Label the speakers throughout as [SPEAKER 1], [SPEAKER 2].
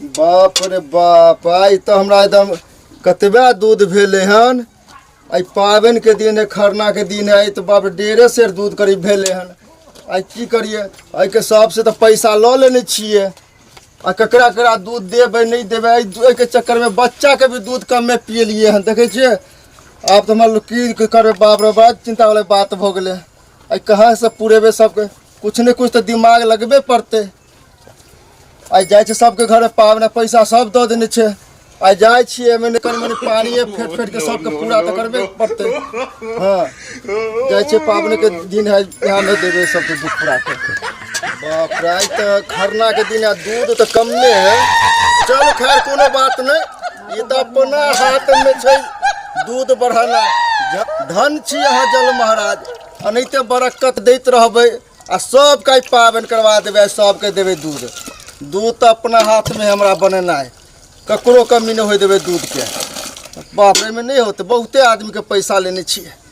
[SPEAKER 1] बाप रे बाप आइ तऽ हमरा एकदम कतबे दूध भेलै हन आइ पाबनिके दिन है खरनाके दिन है तऽ बाप रे डेढ़े सेर दूध करीब भेलै हन आइ की करियै एहिके सबसँ तऽ पैसा लऽ लेने छियै आ ककरा ककरा दूध देबै नहि देबै एहि दू- एहिके चक्करमे बच्चाके भी दूध कमे पियलियै हन देखै छियै आब तऽ हमरा लोग की करबै बाप रे बड़ा चिन्तावला बात भऽ गेलै आ कहाँ से पुरेबे सबके कुछ ने कुछ तो दिमाग लगबे पड़ते आइ जाइ छै सबके घरे पावने पैसा सब दऽ देने छै आइ जाइ छियै एमे कनि मनि पानिए फेट फेट के सबके पूरा तऽ करबे पड़तै हँ जाइ छै पावने के दिन है यहाँ नहि देबै सबके दुख पूरा करतै बाप रे आइ तऽ खरना के दिन आ दूध तऽ कमे है चल खैर कोनो बात नहि ई तऽ अपना हाथमे छै दूध बढ़ाना धन छी अहाँ जल महाराज एनाहिते बरक्कत दैत रहबै आ सबके आइ पाबनि करवा देबै सबके देबै दूध दूध तऽ अपना हाथमे हमरा बनेनाइ ककरो कमी नहि होय देबै दूधके बाप रे, एहिमे नहि होतै बहुते आदमीके पैसा लेने छियै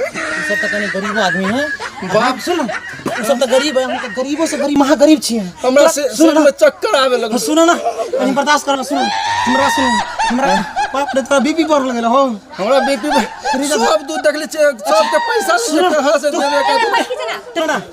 [SPEAKER 2] ई सब तऽ
[SPEAKER 3] कनी गरीबो आदमी है बाप सुन ई सब तऽ गरीब है हम तऽ गरीबो से गरीब महा गरीब छियै हमरा से सुन सुन ना में
[SPEAKER 2] चक्कर आवे लगल सुन ना कनी
[SPEAKER 3] बर्दाश्त कर सुन हमरा सुन हमरा बाप रे तोरा बीपी बढ़ लगल हो हमरा बीपी
[SPEAKER 2] सब दूध देखले छियै सबके पैसा लेके हाथ से देवे का तेरा ना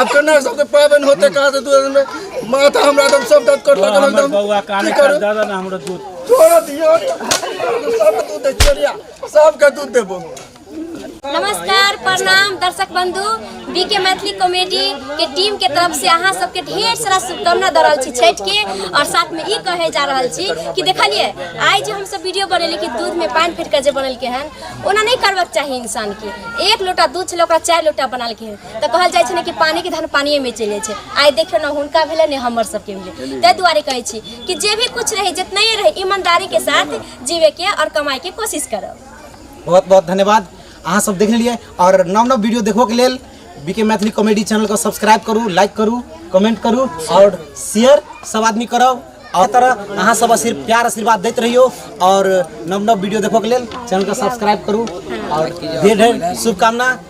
[SPEAKER 2] अब तो ना सबके पावन होते कहा से दूर में माथा हमरा एकदम सब दर्द कर लगल हमर एकदम बौआ कान की करू? दादा
[SPEAKER 4] ना हमरो दूध तोरा दियो
[SPEAKER 2] सब दूध दे चोरिया सबके दूध देबो
[SPEAKER 5] नमस्कार प्रणाम दर्शक बंधु बी के मैथिली कॉमेडी के टीम के तरफ से अहाँ सबके ढेर सारा शुभकामना दऽ रहल छी छठि के और साथ में ई कहे जा रहल छी कि देखलिए आइ जे हम सब वीडियो बनेली कि दूध में पानि फेट के जे बनेलके हन ओना नहि करबाक चाही इंसान के एक लोटा दूध छलै ओकरा चारि लोटा बनालके हन तऽ कहल जाइ छै ने कि पानी के धन पानिये में चलि जाइ छै आइ देखियौ ने हुनका भेलै ने हमर सबके भेलै ताहि दुआरे कहै छी कि जे भी कुछ रहे जितना ही रहे ईमानदारी के साथ जीवे के और कमाए के कोशिश करब बहुत बहुत
[SPEAKER 3] धन्यवाद अहाँ सब देख लेलिए और नव नव वीडियो देखो के लेल बीके मैथिली कॉमेडी चैनल को सब्सक्राइब करू लाइक करू कमेंट करू और शेयर सब आदमी करब और तरह अहाँ सब आशीर्- प्यार आशीर्वाद दैत रहियो और नव नव वीडियो देखो के लेल चैनल को सब्सक्राइब करू और ढेर ढेर शुभकामना